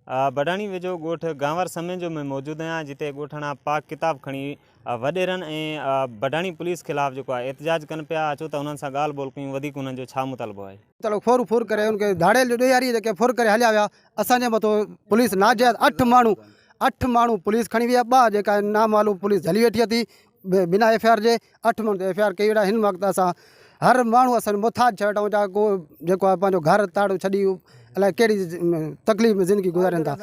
بڊاڻي ويجهو ڳوٺ گانور سمينجو ۾ موجود آهيان جتي ڳوٺاڻا پاڪ ڪتاب کڻي وڏيرن ۽ بڊاڻي پوليس خلاف جيڪو آهي احتجاج ڪن پيا اچو ته انهن سان ڳالهه ٻولهه ڪيون وڌيڪ انهن جو ڇا مطالبو آهي. تڙو ڦر ڦر ڪري ان کي ڌاڙيل جو ڏيهاري جيڪي ڦر ڪري هليا ويا اسان جي مٿو پوليس ناجائز اٺ ماڻهو اٺ ماڻهو پوليس کڻي ويئي ٻه جيڪا نامعلوم پوليس جهلي ويٺي اٿي بنا ايف آء آر جي اٺ ماڻهن تي ايف آء آر ڪئي ويٺا هن وقت اسان هر ماڻهو اسان محتاج ٿيا ويٺا آهيون چاهي ڪو جيڪو آهي پنهنجو گهر تاڙو ڇڏي الاء ڪهڙي تڪليف ۾ زندگي گذارين ٿا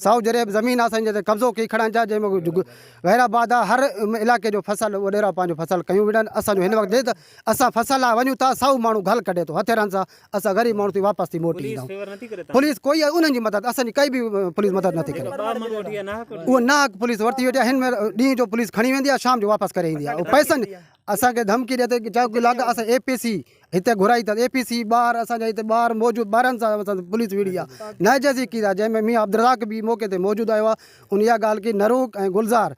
سائو جريب زمين آهي اسان جي تي قبضو ڪئي کڙا آهن جا جنهن ۾ غير آباد آهي هر علائقي جو فصل اڏيرا پنهنجو فصل ڪيون ويٺا آهن اسان جو هن وقت اسان فصل لاء وڃون ٿا سائو ماڻهو گهل ڪڍي ٿو هٿيرن سان اسان غريب ماڻهو ٿي واپس ٿي موٽي ايندائون پوليس ڪوئي انهن جي مدد اسان جي ڪئي به پوليس مدد نه ٿي ڪري اهو ناحق پوليس ورتي ويٺي هن ۾ ڏينهن جو پوليس کڻي ويندي آهي شام جو واپس ڪري ايندي آهي پئسن اسان کي ڌمڪي ڏي ته چاهي ڪو لاڳ اسان اي پي سي هتي گهرائي اٿس اي پي سي ٻار اسان جا هتي ٻار موجود ٻارن سان پوليس وڙهي آهي ناجائز ڪيس آهي جنهن ۾ ميان عبدالرزاق به موقعي تي موجود آيو آهي ان اها ڳالهه ڪئي نروڪ ۽ گلزار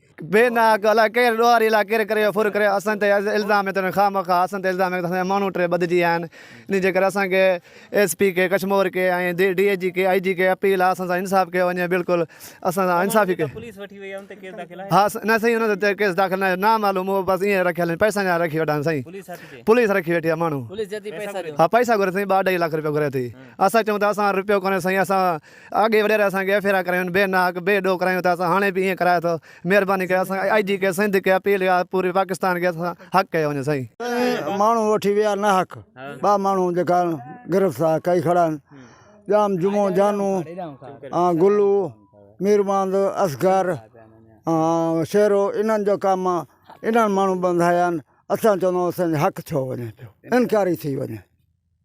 بي ناحق الاء ڪهڙي ڏوهاري لاء ڪير ڪري ڦر ڪري اسان تي الزام هي ته انهن خامخواه اسان تي الزام هي ته اسان جا ماڻهو ٽي ٻڌجي ويا آهن انهي جي ڪري اسان کي ايس پي کي ڪشمور کي ۽ ڊي اي جي کي آئي جي کي اپيل آهي اسان سان انصاف ڪيو وڃي بلڪل اسان سان انصافي ڪي ها نه سائين انهن تي ڪيس داخل نه آهي نامعلوم هو بس ائين رکيل آهن پئسن جا رکي ويٺا آهن سائين پوليس رکي ويٺي آهي ماڻهو ها پئسا گهري سائين ٻه اڍائي لک رپيا گهري ٿي اسان چئون ته اسان وٽ رپيو ڪونهي سائين اسان اڳي وڏيري اسان کي ڦيرا ڪرايون بي ناحق بي ڏوهه ڪرايون ته اسان هاڻي به ائين ڪرايو اٿو مهرباني ڪري اسان آء جي کي سنڌ کي اپيل اها پوري پاڪستان کي اسان حق ڪيو وڃي سائين. ڪئين ماڻهو وٺي ويا ناحق ٻه ماڻهو جيڪا گرفتار ڪئي کڙا آهن ڄام جمعو جانو ۽ گلو ميرماند اصغر ۽ شيرو انهن جو ڪم انهن ماڻهو ٻڌايا آهن اسان چوندو اسان جو حق ڇو وڃي پيو انڪاري ٿي وڃي.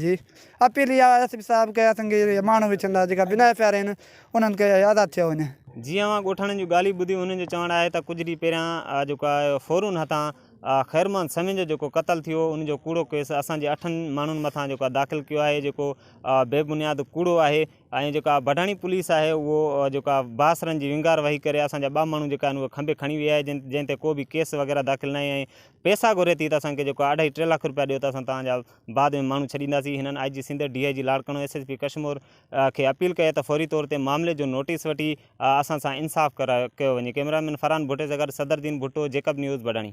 جي اپيل اها آهي ايس پي صاحب ڪي اسان کي ماڻهو ويچڻ لاء جيڪا بنا ايف آر آهن انهن کي آزاد ٿيو وڃي. جي اوهان ڳوٺاڻن جون ڳالهيون ٻڌيون انهن جو چوڻ آهي ته ڪجهه ڏينهن پهريان جيڪو ڦورون هٿان خيرمحمد سمين جو جيڪو قتل ٿيو ان جو ڪوڙو ڪيس اسان جي اٺن ماڻهن مٿان جيڪو داخل ڪيو آهي جيڪو بي بنياد ڪوڙو آهي ۽ جيڪا بڊاڻي پوليس آهي اهو جيڪا باسرن جي ونگار وهي ڪري اسان جا ٻه ماڻهو جيڪا آهن اهي کنڀي کڻي ويئي آهي جن جنهن تي ڪو به ڪيس وغيره داخل ناهي ۽ پيسا گهري ٿي ته اسان کي جيڪو اڍائي ٽي لک روپيا ڏيو ته اسان توهان جا بعد ۾ ماڻهو ڇڏينداسين، هنن I G Sindh, D I G Larkana, S S P Kashmore کي اپيل ڪئي ته فوري طور تي معاملي جو نوٽيس وٺي اسان سان انصاف ڪيو وڃي، ڪئميرا مين فرحان ڀٽي سان گڏ صدر دين ڀٽو، جيڪب نيوز، بڊاڻي.